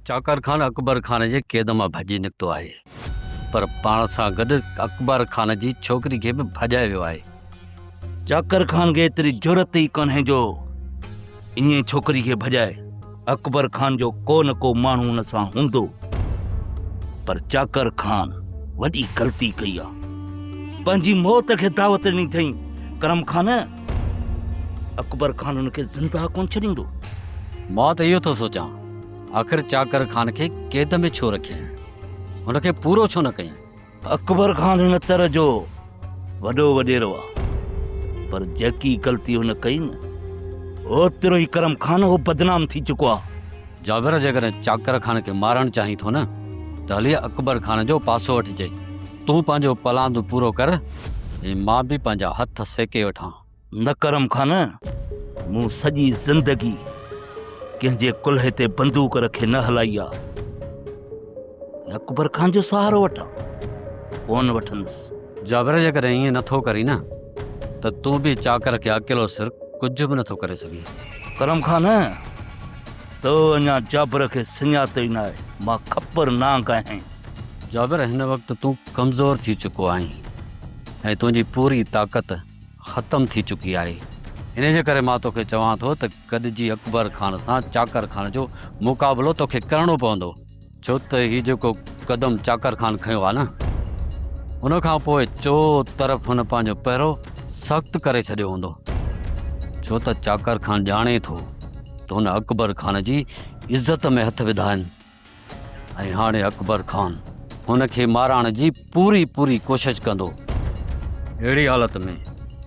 چاڪر خان اڪبر خان جي قيد مان ڀڄي نڪتو آهي پر پاڻ سان گڏ اڪبر خان جي ڇوڪري کي به ڀڄائي ويو آهي. چاڪر خان کي ايتري جرئت ئي ڪانهي جو ائين ڇوڪري کي ڀڄائي. اڪبر خان جو ڪو نه ڪو ماڻهو ان سان هوندو پر چاڪر خان وڏي غلطي ڪئي آ. پنهنجي موت کي دعوت ڏني اٿئين. ڪرم خان اڪبر خان ان کي زنده ڪونه ڇڏيندو. مان ته اهو ٿو سوچان آخر چاڪر خان کي قيد ۾ ڇو رکيائين؟ هن کي پورو ڇو نه ڪيائين؟ اڪبر خان هن تر جو وڏو وڏيرو آ پر جيڪي غلطي هن ڪئي نه اوترو ئي ڪرم خان هو بدنام ٿي چڪو آ. جابر جيڪڏهن چاڪر خان کي مارڻ چاهين ٿو نه ته هلي اڪبر خان جو پاسو وٺجي. تون پنهنجو پلاند پورو ڪر ۽ مان به پنهنجا هٿ سيڪي وٺان. نه ڪرم خان، مون سڄي زندگي ڪنهن جي ڪلهي تي بندوق رکي نه هلائي آ. اڪبر خان جو سهارو وٺان، ڪونه وٺندس. جابر جيڪڏهن ائين نه ٿو ڪرين نه ته تون به چاڪر کي اڪيلو سر ڪجهه به نه ٿو ڪري سگهين. ڪرم خان، تو اڃا جابر کي سڃاتو ئي ناهي، مان کپر نانگ آهيان. جابر هن وقت تون ڪمزور ٿي چڪو آهين ۽ تنهنجي پوري طاقت ختم ٿي چڪي آهي انهي جي ڪري مان توکي چوان ٿو ته گڏجي اڪبر خان سان چاڪر خان جو مقابلو توکي ڪرڻو پوندو. ڇو ته هي جيڪو قدم چاڪر خان کنيو آهي نه ان کان پوء چو طرف هن پنهنجو پهرو سخت ڪري ڇڏيو هوندو ڇو ته چاڪر خان ڄاڻي ٿو ته هن اڪبر خان جي عزت ۾ هٿ وڌا آهن. ۽ هاڻي اڪبر خان هن کي مارائڻ جي پوري پوري ڪوشش ڪندو. اهڙي حالت ۾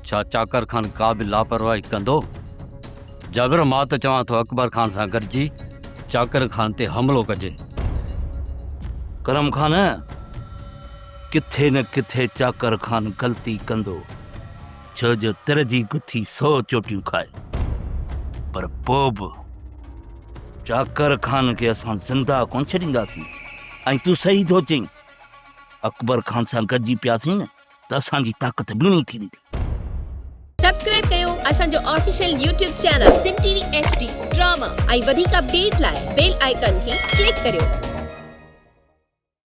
ڇا چاڪر خان ڪا به لاپرواهي ڪندو؟ جابر، مان ته چوان ٿو اڪبر خان سان گڏجي چاڪر خان تي حملو ڪجي. ڪرم خان، ڪٿي نه ڪٿي چاڪر خان غلطي ڪندو. ڇو جو تر جي گٿي سو چوٽيون کائي پر پوء به چاڪر خان کي اسان زنده ڪونه ڇڏينداسين ۽ تون صحيح ٿو چئين اڪبر خان سان گڏجي پياسين نه ته اسان جي طاقت ٻيڻي ٿي ويندي سبسڪرائب ڪيو اسان جو official YouTube channel Sindh T V H D drama ۽ وڌيڪ اپڊيٽ لاء بيل آئيڪن کي ڪلڪ ڪريو